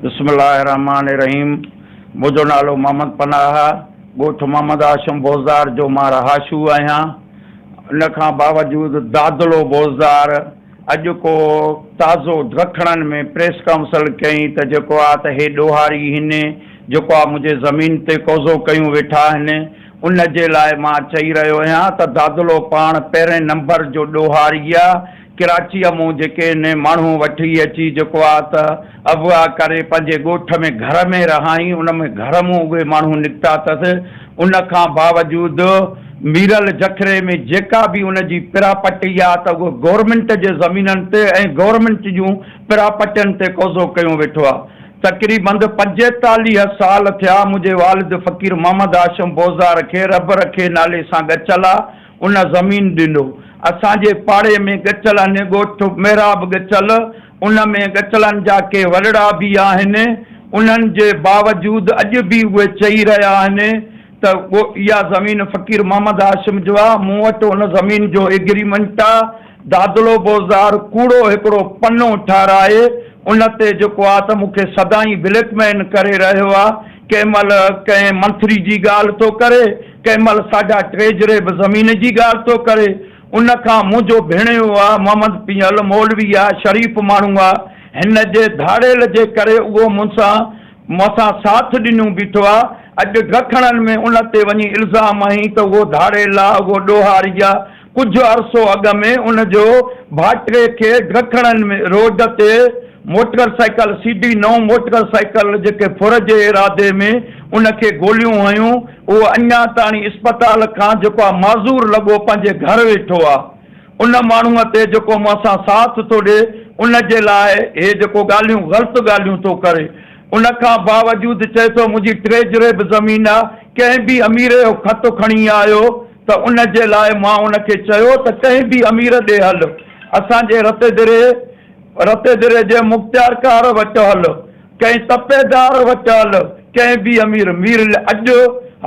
بسم الله الرحمٰن الرحيم منهنجو نالو محمد پناهه آهي ڳوٺ محمد هاشم بوزدار جو مان رهاشو آهيان ان کان باوجود دادلو بوزدار اڄ ڪو تازو ڊکڻن ۾ پريس ڪائونسل ڪئي ته جيڪو آ ته هي ڏوهاري هن جيڪو آ منهنجي زمين تي قوضو ڪيون ويٺا آهن ان جي لاء مان چئي رهيو هيان ته دادلو پاڻ پهرين نمبر جو ڏوهاري آ ڪراچيء مون جيڪي نه ماڻهون وٺي اچي جيڪو آ ته اغوا ڪري پنهنجي ڳوٺ ۾ گهر ۾ رهائين ان ۾ گهر مون اهي ماڻهون نڪتا اٿس ان کان باوجود ميرل جکري ۾ جيڪا به ان جي پراپرٽي آ ته اهو گورنمينٽ جي زمينن تي ۽ گورنمينٽ جون پراپرٽين تي قوضو ڪيون ويٺو آ. تقريبند پنجيتاليهه سال ٿيا منهنجي والد فقير محمد هاشم بوزدار کي رب رکي نالي سان ڳچل آ ان زمين ڏنو. اسان جي پاڙي ۾ ڳچل اني ڳوٺ محراب ڳچل، ان ۾ ڳچلن جا ڪي ورڙا به آهن، انهن جي باوجود اڄ به اهي چئي رهيا آهن ته اها زمين فقير محمد هاشم جو آ، مون وٽ ان زمين جو ايگريمنٽ آ. دادلو بوزدار ڪوڙو هڪڙو پنو ٺاهرائي ان تي جيڪو آ ته مون کي سدائين بليڪ مين ڪري رهيو آ، ڪنهن مهل ڪنهن منٿري جي ڳالهه ٿو ڪري، ڪنهن مهل ساڍا ٽيجري به زمين جي ڳالهه ٿو ڪري. ان کان منهنجو ڀيڻيو آ محمد پيهل مولوي آ شريف ماڻهو آ هن جي ڌاڙيل جي ڪري اهو مون سان مون سان ساٿ ڏنيون بيٺو آ اڄ ڊکڻن ۾ ان تي وڃي الزام هنئين ته اهو ڌاڙيل آ اهو ڏوهاري آ ڪجهه عرصو اڳ ۾ ان جو ڀاٽي کي ڊکڻن ۾ روڊ تي موٽر سائيڪل سي ڊي نو موٽر سائيڪل جيڪي ڦر جي ارادي ۾ ان کي گوليون هنيون هو اڃا تاڻي اسپتال کان جيڪو معذور لڳو پنهنجي گهر ويٺو آ ان ماڻهوء تي جيڪو مون سان ساٿ ٿو ڏي ان جي لاء هي جيڪو ڳالهيون غلط ڳالهيون ٿو ڪري ان کان باوجود چئي ٿو منهنجي ٽي جريب زمين آ ڪنهن به امير جو خط کڻي آيو ته ان جي لاء مان ان کي چيو ته ڪنهن به امير ڏي هل اسان جي رتيدري رتيدري جي مختيارڪار وٽ هل ڪنهن تپيدار وٽهل ڪنهن به امير مير لئه اڄ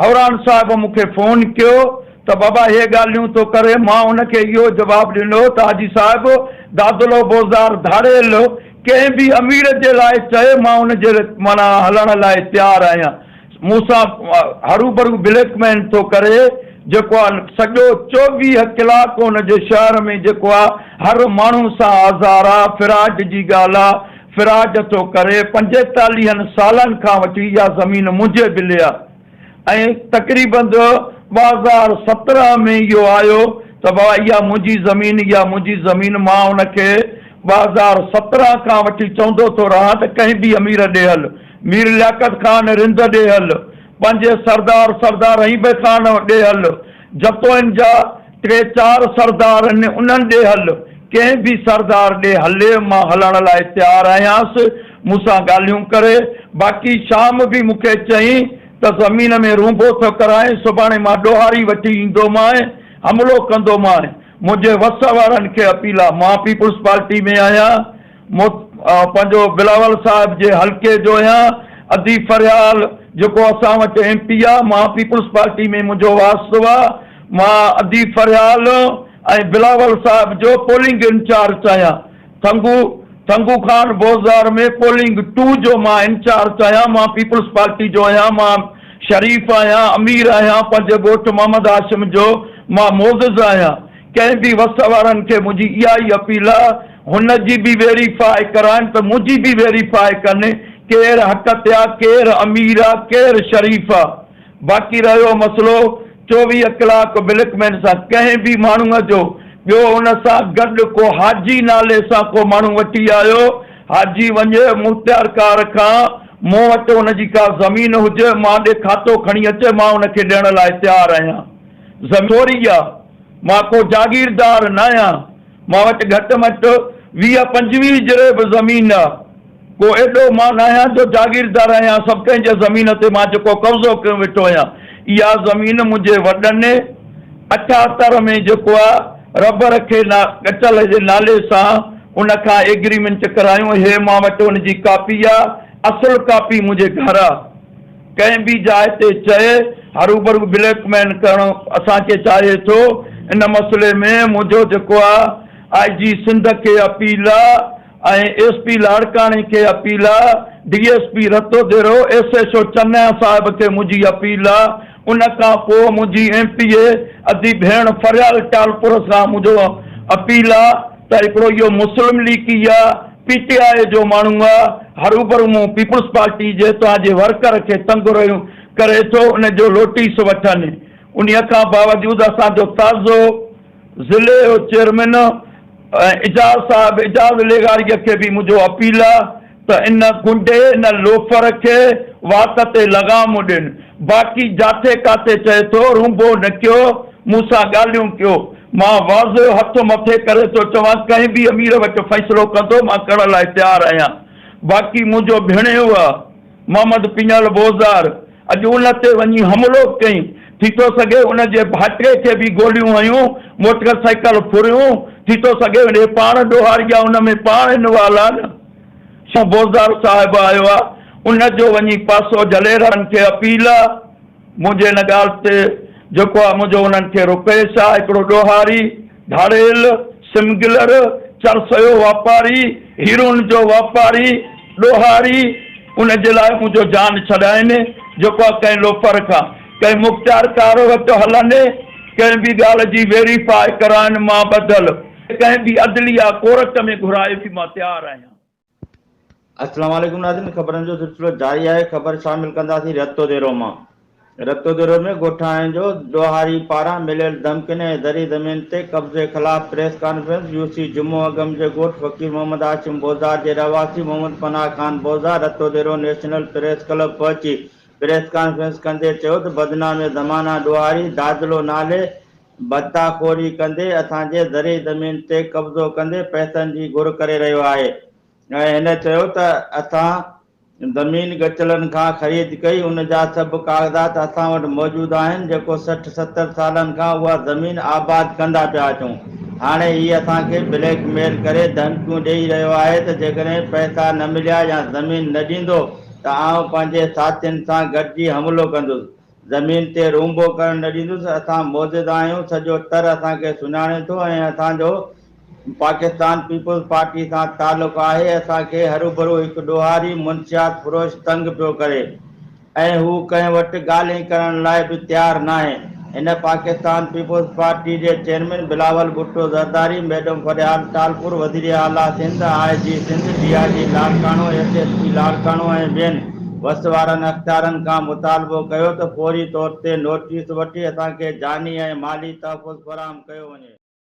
حوران صاحب مون کي فون ڪيو ته بابا هي ڳالهيون ٿو ڪري مان ان کي اهو جواب ڏنو ته حاجي صاحب دادلو بوزدار ڌاڙيل ڪنهن به امير جي لاء چئي مان ان جي معنيٰ هلڻ لاء تيار آهيان مون سان هروڀرو بليڪ مين ٿو ڪري جيڪو آ سڄو چوويهه ڪلاڪ ان جي شهر ۾ جيڪو آ هر ماڻهو سان آزار آ فراڊ جي ڳالهه آ فراڊ ٿو ڪري، پنجيتاليهن سالن کان وٺي اها زمين منهنجي بلي آ ۽ تقريبن ٻه هزار سترهن ۾ اهو آيو ته بابا اها منهنجي زمين اها منهنجي زمين مان ان کي ٻه هزار سترهن کان وٺي چوندو ٿو رهان ته ڪنهن به امير ڏي هل مير لياقت خان رند ڏي هل پنهنجي سردار سردار رحيم خان ڏي هل جتوئن جا ٽي چار سردار آهن، انهن ڏي هل، ڪنهن به سردار ڏي هلي، مان هلڻ لاء تيار آهيانس، مون سان ڳالهيون ڪري، باقي شام به مون کي چئين ته زمين ۾ رونڀو ٿو ڪرائين، سڀاڻي مان ڏوهاري وٺي ايندومانء، حملو ڪندومانء، منهنجي وس وارن کي اپيل آ، مان پيپلز پارٽي ۾ آهيان، مون پنهنجو بلاول صاحب جي حلقي جو هيان ادي فريال جيڪو اسان وٽ ايم پي آ مان پيپلز پارٽي ۾ منهنجو واسطو آ مان ادي فريال ۽ بلاول صاحب جو پولنگ انچارچ آهيان ٿنگو ٿنگو خان بوزدار ۾ پولنگ ٽو جو مان انچارچ آهيان مان پيپلز پارٽي جو هيان مان شريف آهيان امير آهيان پنهنجي ڳوٺ محمد هاشم جو مان معزز آهيان ڪنهن به وس وارن کي منهنجي اها ئي اپيل آ هن جي به ويري فاء ڪرائين ته منهنجي به ويري فاء ڪن ڪير حق تي آ ڪير امير آ ڪير شريف آ باقي رهيو مسئلو چوويهه ڪلاڪ ملڪ مين سان ڪنهن به ماڻهو جو ٻيو ان سان گڏ ڪو حاجي نالي سان ڪو ماڻهو وٺي آيو حاجي وڃي مختيار ڪار کان مون وٽ ان جي ڪا زمين هجي مان ڏي کاتو کڻي اچي مان ان کي ڏيڻ لاء تيار آهيان. زمين ٿوري آ، مان ڪو جاگيردار ناهيان، مان وٽ گهٽ مٽ ويهه پنجويهه جرهه به زمين آ، ڪو ايڏو مان ناهيان جو جاگيردار آهيان، سڀ ڪنهن جي زمين تي مان جيڪو قبضو ڪيو ويٺو آهيان، اها زمين منهنجي وڏن اٺهتر ۾ جيڪو آ رب رکي نا ڳچل جي نالي سان ان کان ايگريمينٽ ڪرايون هي مان وٽ ان جي ڪاپي آ، اصل ڪاپي منهنجي گهر آ. ڪنهن به جاء تي چئي هروڀرو بليڪ ميل ڪرڻ اسان کي چاهي ٿو ان مسئلي ۾ منهنجو جيڪو آء آء جي سنڌ کي اپيل آ ۽ ايس پي لاڙڪاڻي کي اپيل آ D S P Rato Dero S H O چنيا صاحب کي منهنجي اپيل آ ان کان پوء منهنجي ايم پي اي ادي ڀيڻ فريال ٽالپر سان منهنجو اپيل آ ته هڪڙو اهو مسلم ليگي يا پي ٽي آء جو ماڻهو آ، هروڀرو مون پيپلز پارٽي جي توهان جي ورڪر کي تنگ رهيو ڪري ٿو، ان جو لوٽيس وٺن. انهيء کان باوجود اسان جو تازو. ضلعي جو چيئرمين اعجاز صاحب اعجاز لغاريء کي به منهنجو اپيل آ ته ان گنڊي ان لوفر کي وات تي لغام ڏين باقي جاٿي ڪاٿي چئي ٿو رونبو نه ڪيو مون سان ڳالهيون ڪيو مان واضح هٿ مٿي ڪري ٿو چوان ڪنهن به امير وٽ فيصلو ڪندو مان ڪرڻ لاء تيار آهيان باقي منهنجو ڀيڻيو آ محمد پڃل بوزدار اڄ ان تي وڃي حملو ڪيئي، ٿي ٿو سگهي ان جي ڀائٽي کي به گوليون هنيون، موٽر سائيڪل ڦريون، ٿي ٿو سگهي اهي پاڻ ڏوهاري جا ان ۾ پاڻ انوالو آهن. شو بوزدار صاحب آيو آ، ان جو وڃي پاسو جليرن کي اپيل آ. منهنجي ان ڳالهه تي جيڪو آهي منهنجو انهن کي روپيش آهي، هڪڙو ڏوهاري، ڌاڙيل، سمگلر، چرسيو واپاري، هيرون جو واپاري، ڏوهاري، ان جي لاء منهنجو جان ڇڏائين، جيڪو آهي ڪنهن لوفر کان، ڪنهن مختيارڪار وٽ هلن، ڪنهن به ڳالهه جي ويري فاء ڪرائن مان ٻڌل، ڪنهن به عدليه ڪورٽ ۾ گهرائي به مان تيار آهيان. السلام عليڪم ناظرين خبرن جو سلسلو جاري آهي خبر شامل ڪنداسين رتو ديرو مان رتو ديرو ۾ ڳوٺاڻن جو ڏوهاري پاران مليل ڌمڪين ۽ زرعي زمين تي قبضي خلاف پريس ڪانفرنس يو سي جمعو اگم جي ڳوٺ فقير محمد هاشم بوزار جي رهواسي محمد پناهه خان بوزار Rato Dero national press club پهچي پريس ڪانفرنس ڪندي چيو ته بدنام زمانه ڏوهاري دادلو نالي ڀتا خوري ڪندي اسان جي زرعي زمين تي قبضو ڪندي پئسن جي گهر ڪري رهيو آهي ۽ هن چيو ته اسان زمين ڳچلن کان خريد ڪئي ان جا سڀ ڪاغذات اسان وٽ موجود آهن جيڪو سٺ ستر سالن کان اها زمين آباد ڪندا پيا اچون هاڻي هي اسان کي بليڪ ميل ڪري ڌمڪيون ڏيئي رهيو آهي ته جيڪڏهن پئسا نه مليا يا زمين نه ڏيندو ته آئون پنهنجي ساٿين سان گڏجي حملو ڪندس زمين تي رونبو ڪرڻ نه ڏيندس، اسان معجزه آهيون، سڄو تر اسان کي سڃاڻي ٿو ۽ اسان جو پاڪستان پيپلز پارٽي سان تعلق آهي، اسان کي هروڀرو هڪ ڏوهاري منشيات فروش تنگ پيو ڪري ۽ هو ڪنهن وٽ ڳالهين ڪرڻ لاء به تيار ناهي، هن پاڪستان پيپلز پارٽي جي چيئرمين بلاول ڀٽو زرداري، ميڊم فريال ٽالپر، وزير اعليٰ Sindh, I G Sindh, D I G Larkana, S S P Larkana ۽ ٻين. وس وارن اختيارن کان مطالبو ڪيو ته فوري طور تي نوٽيس وٺي اسان کي جاني ۽ مالي تحفظ فراهم ڪيو وڃي.